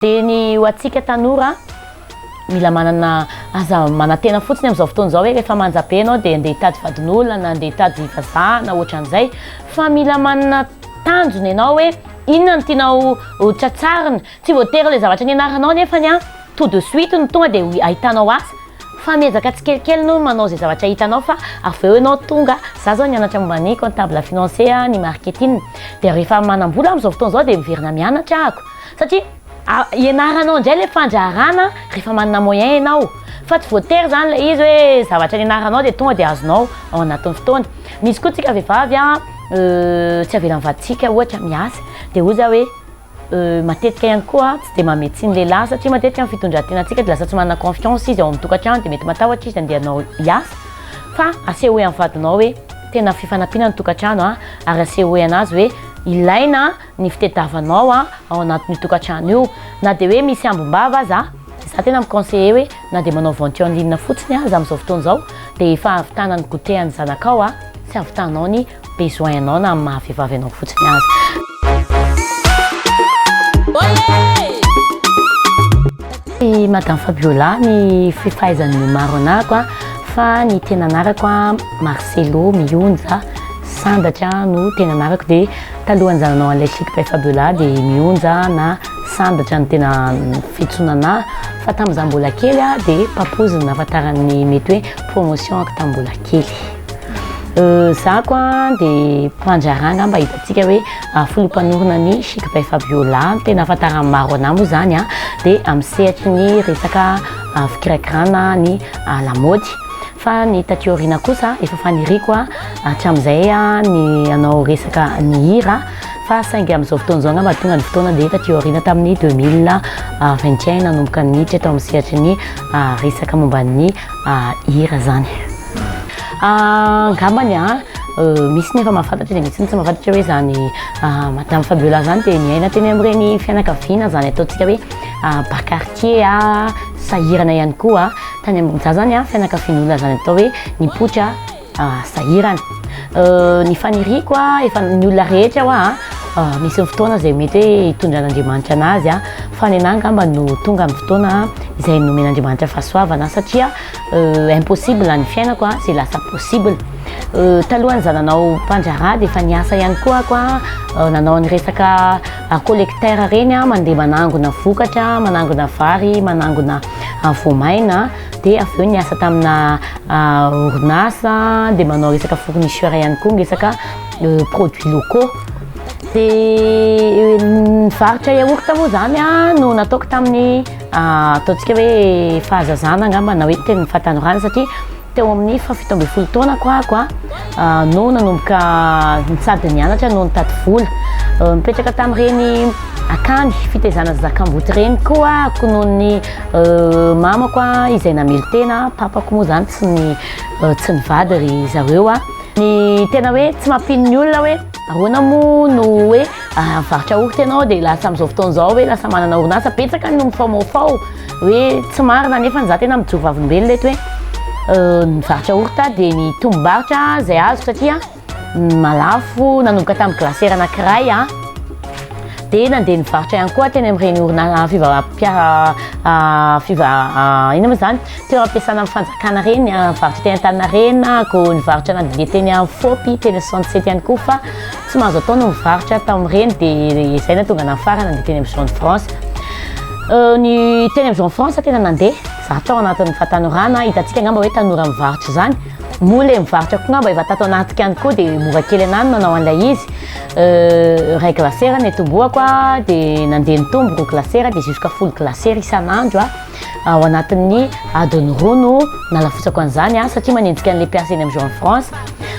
Dia ny ho antsika tanora an, mila manana, aza manantena fotsiny amin'izao fotoana izao hoe rehefa manja be ianao dia andeha hitady vadin'olona na andeha hitady vazaha na ohatran'izay fa mila manana tanjona ianao hoe inona no tianao ho tratsarina, tsy voatery ilay zavatra nianaranao anefany an, tout de suite no tonga dia ahitanao asa fa miezaka tsikelikely aloha manao izay zavatra hitanao fa avy eo ianao tonga, za izao nianatra momba ny comptable financier, ny marketing dia rehefa manam-bola amin'izao fotoana izao dia miverina mianatra ahako. Satria ianaranao indray ilay fandraharana rehefa manana moyen ianao, fa tsy voatery izany ilay izy hoe zavatra nianaranao dia tonga dia azonao ao anatin'ny fotoana. Misy koa tsika vehivavy tsy avelan'ny vadintsika ohatra miasa, dia hoy za hoe matetika ihany koa tsy dia mamehy tsiny lehilahy satria matetika ny fitondran-tenantsika dia lasa tsy manana confiance izy ao amin'ny tokantrano dia mety matahotra izy handeha hanao hiasa, fa asehoy amin'ny vadinao hoe tena fifanampiana ny tokantrano ary asehoy an'azy hoe ilaina ny fitediavanao ao anatin'io tokantrano io, na dia hoe misy ambom-bava aza, za tena mi-conseiller hoe na dia manao vente en ligne fotsiny aza amin'izao fotoana izao dia efa ahavitana ny goûter an'ny zanakao sy ahavitanao ny besoin anao na amin'ny maha vehivavy anao fotsiny aza. I Madame Fabiola ny fahaizan'ny maro anako fa ny tena anarako Marcelo Mihonja Sandratra no tena anarako dia Talohan'ny zananao an'ilay Chic Prefabula dia mionja na sandatra ny tena fitsonana fa tamin'ny izaho mbola kely dia papoose no nahafantaran'ny mety hoe promotion ako tamin'ny mbola kely. Izaho ko dia mpandraharaha angamba hitantsika hoe filoha mpanorina ny Chic Prefabula no tena ahafantaran'ny maro an'ahy moa izany an, dia amin'ny sehatry ny resaka fikirakirana ny lamaody. Fa ny taty aoriana kosa efa faniriako hatramin'izay ny hanao resaka ny hira fa saingy amin'izao fotoana izao angamba tonga ny fotoana dia taty aoriana tamin'ny deux mille vingt et un nanomboka niditra tao amin'ny sehatry ny resaka momba ny hira izany. Angambany misy ny efa mahafantatra dia misy ny tsy mahafantatra hoe izany Madame Fabiola izany dia niaina teny amin'ireny fianakaviana izany ataontsika hoe bas quartier sahirana ihany koa. Tany ambony za zany fianakaviany olona zany atao hoe nipoitra sahirana ny faniriako efa ny olona rehetra hoa misy ny fotoana zay mety hoe hitondran'Andriamanitra anazy fa nenah angamba no tonga ny fotoana zay nomen'Andriamanitra fahasoavana satria impossible ny fiainako zay lasa possible talohan'ny za nanao mpandraharaha dia efa niasa ihany koa aho hoa nanao ny resaka collecteur reny mandeha manangona vokatra manangona vary manangona any voamaina dia avy eo niasa tamina orinasa dia manao resaka fournisseur ihany koa miresaka produits locaux dia nivarotra yaourt moa zany an no nataoko tamin'ny ataontsika hoe fahazazana angamba na hoe tamin'ny fahatanorana satria Teo amin'ny fahafito ambin'ny folo taonako aho no nanomboka nitsady nianatra no nitady vola. Nipetraka tamin'ireny akany fitaizana zakamboty ireny koa aho noho ny mamako izay namelon-tena, papako moa izany tsy tsy nivady ry zareo. Ny tena hoe tsy mampino ny olona hoe. Ahoana moa no hoe mivarotra orty ianao dia lasa amin'izao fotoana izao hoe lasa manana orinasa? Betsaka no mifaomaofao hoe tsy marina nefa izaho tena mijoro vavolombelona eto hoe nivarotra orty dia ny tombom-barotra izay azoko satria malafo nanomboka tamin'ny glacière anankiray dia nandeha nivarotra ihany koa teny amin'ireny orinasa fivarotam-piara inona moa izany? Toeram-piasana amin'ny fanjakana ireny, ny varotra teny Antaninarenina, koa nivarotra anaty didibe teny Afovoampy, teny soixante sept ihany koa fa tsy mahazo atao ny mivarotra tamin'ireny dia izay no tonga nafarana nandeha teny amin'ny zone franche. Ny teny amin'ny zone franche tena nandeha, izaho tao anatin'ny fahatanorana, hitantsika angamba hoe tanora mivarotra izany, moa ilay mivarotra koa angamba efa tato anaty ihany koa dia mora kely anah ny manao an'ilay izy, iray glacière no nitomboako dia nandeha nitombo roa glacière dia jusqu'à folo glacière isan'andro. ao anatin'ny adiny roa no nalafotsako an'izany a satria manenjika an'ilay mpiasa eny amin'ny Joan France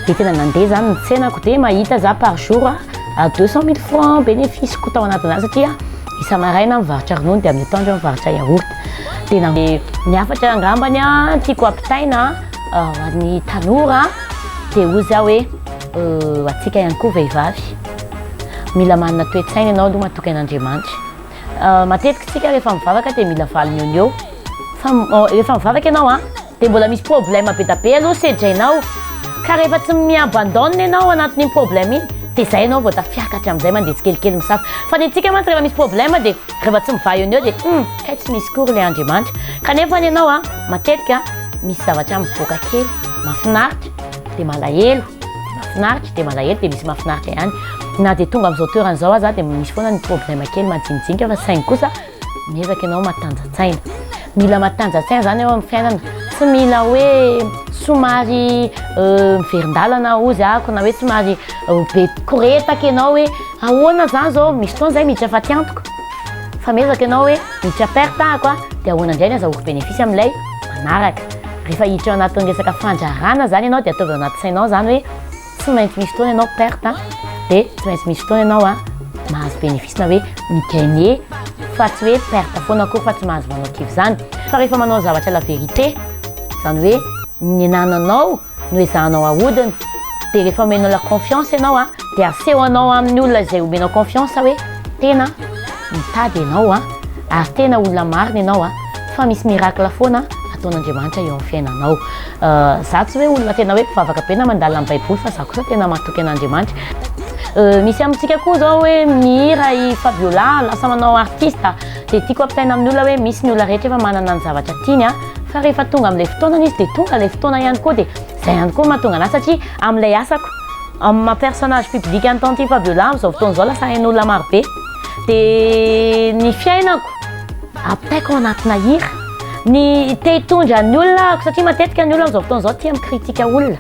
dia tena nandeha izany ny tsenako dia mahita za par jour a à deux cent mille francs bénéfice-ko tao anatin'izany satria isa-maraina aho mivarotra ronono dia amin'ny atoandro aho mivarotra yaourt dia na ny hafatra angambany a tiako ampitaina ho an'ny tanora dia hoy za hoe ho antsika ihany koa vehivavy mila manana toe-tsaina ianao aloha matoky an'Andriamanitra Matetiky tsika rehefa mivavaka dia mila valiny eo no eo fa rehefa mivavaka ianao a dia mbola misy problème be da be aloha sedrainao ka rehefa tsy mi-abandonne ianao anatin'iny problème iny dia izay ianao vao tafiakatra amin'izay mandeha tsikelikely misafa fa ny antsika mantsy rehefa misy problème dia rehefa tsy mivaha eo no eo dia hum kay tsy misy koa ry ilay Andriamanitra kanefa ny anao a matetika misy zavatra mivoaka kely mahafinaritra dia malahelo Mahafinaritra dia malahelo dia misy mahafinaritra ihany. Na dia tonga amin'izao toerana izao aza dia misy foana ny problème kely majinijinika fa saingy kosa miezaka ianao matanjatsaina. Mila matanjatsaina izany eo amin'ny fiainana. Tsy mila hoe somary miverin-dalana ozy ako na hoe somary be koretaka ianao hoe ahoana izany izao, misy fotoana izay miditra fa tsy antoko. Fa miezaka ianao hoe hiditra perte ahako a, dia ahoana indray ny azahoako bénéfice amin'ilay manaraka? Rehefa hiditra ao anatin'ny resaka fandrarana izany ianao dia ataovy ao anaty sainao izany hoe tsy maintsy misy fotoana ianao perte a, dia tsy maintsy misy fotoana ianao a mahazo bénéfice na hoe mi-gagner fa tsy hoe perte foana akory fa tsy mahazo manao kivy izany. Fa rehefa manao zavatra la vérité, izany hoe ny anananao, no ezahanao ahodina dia rehefa omena la confiance ianao a dia aseho anao amin'ny olona izay omena confiance hoe tena mitady ianao a ary tena olona marina ianao a fa misy miracle foana ataon'Andriamanitra eo amin'ny fiainanao euh, za tsy hoe olona tena hoe mpivavaka be na mandala amin'ny baiboly fa za kosa tena matoky an'Andriamanitra euh, misy amintsika koa zao hoe mihira i Fabiola lasa manao artiste Dia tiako ampitaina amin'ny olona hoe misy ny olona rehetra efa manana ny zavatra tiany an, fa rehefa tonga amin'ilay fotoanany izy dia tonga ilay fotoana ihany koa dia izay ihany koa no mahatonga anahy satria amin'ilay asako amin'ny maha personnage public an'i Tantine Fabiola amin'izao fotoana izao lasa hain'olona marobe dia ny fiainako ampitaiko ao anatina hira, ny te hitondra ny olona ahako satria matetika ny olona amin'izao fotoana izao tia mi-critique olona.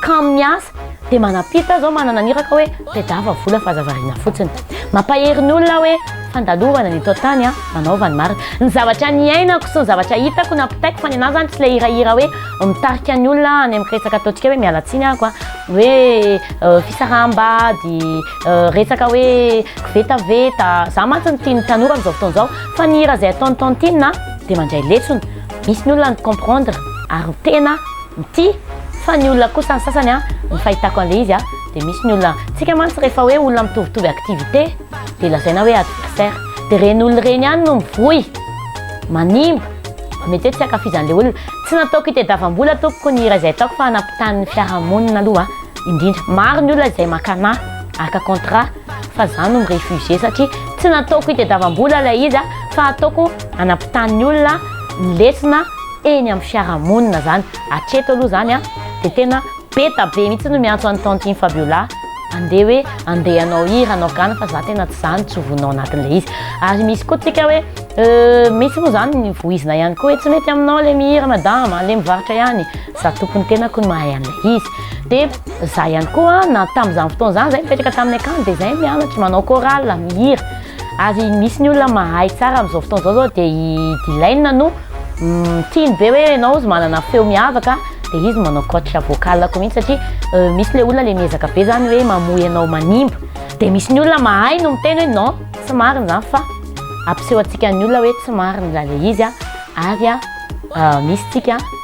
Kamo miasa dia manam-pita zao manana ny iraka hoe tedava vola fa aza variana fotsiny. Mampahery ny olona aho hoe fandalovana ny eto an-tany an! Manaova ny marina. Ny zavatra niainako sy ny zavatra hitako nampitaiko fa ny anah zany tsy ilay hirahira hoe mitarika ny olona any amin'ny resaka ataontsika hoe miala tsiny aho an! hoe fisaraham-bady, resaka hoe kivetaveta, za mantsy no tian'ny tanora amin'izao fotoana izao fa ny hira izay ataon'i Tantine dia mandray lesona, misy ny olona ny comprendre ary ny tena ity fa ny olona kosa ny sasany a ny fahitako an'le izy a de misy ny olona tsika mantsy rehefa hoe olona mitovitovy activité de lazaina hoe adversaire de reny olona reny ihany no mivoy manimba mety hoe tsy ankafizan'le olona tsy nataoko itedavambola tompoko ny hira izay ataoko fa hanapitahan'ny fiarahamonina aloha indrindra maro ny olona izay maka anah araka contrat fa za no mirefugier satria tsy nataoko itedavambola ilay izy a fa ataoko hanapitahan'ny olona ny lesona eny amin'ny fiarahamonina zany, hatreto aloha zany an, dia tena be da be mihitsy no miantso an'i tantine Fabiola andeha hoe andeha hanao hira hanao gana fa za tena tsy zany tsy ho vonona ao anatin'ilay izy, ary misy koa tsika hoe euh misy moa zany ny vohizina ihany koa hoe tsy mety aminao le mihira madama aleo mivarotra ihany, za tompony tenako no mahay an'ilay izy, dia za ihany koa na tamin'izany fotoana izany zay nipetraka tamin'ny akany dia zay mianatra manao chorale mihira, Ary misy ny olona mahay tsara amin'izao fotoana izao zao dia i Dylaine no tiany be hoe ianao izy manana feo miavaka dia izy manao coach vocal ko mihitsy satria misy ilay olona ilay miezaka be izany hoe mamoy anao manimba dia misy ny olona mahay no miteny hoe non tsy marina izany fa ampiseho antsika ny olona hoe tsy marina ilay izy ary misy tsika